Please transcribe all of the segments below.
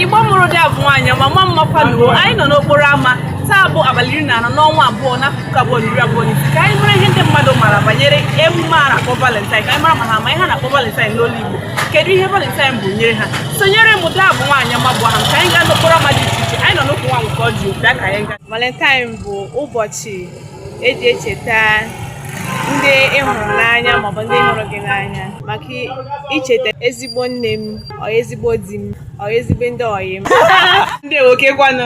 Igbo mụrụ dị abụ nwaanyị ọma mma mma kwanụ o anyị nọ n'okporo ámá taa bụ abalị iri na anọ n'ọnwa abụọ n'afọ puku abụọ na iri abụọ na ise ka anyị mara ihe ndị mmadụ mara banyere emume a na-akpọ valentine ka anyị mara ma ha ma ihe a na-akpọ valentine n'olu Igbo kedu ihe valentine bụ nyere ha sonyere m dị abụ nwaanyị ọma bụ ha ka anyị gaa n'okporo ámá dị iche iche anyị nọ n'okwu nwa nke ọ jụrụ bịa ka anyị gaa valentine bụ ụbọchị eji echeta ndị ị hụrụ n'anya maọbụ ndị hụrụ gị n'anya maka icheta ezigbo nne m o ezigbo di m o ezigbo ndị ọyị m ndị nwoke kwanụ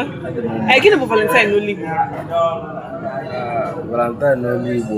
gịnị bụ valentine n'olu Igbo valentine n'olu Igbo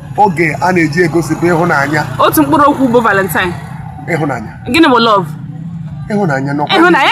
oge a na-eji egosipụ ịhụnanya otu mkpụrụ okwu bụ valentine ịhụnanya gịnị bụ love ịhụnanya n'ọkwa ịhụnanya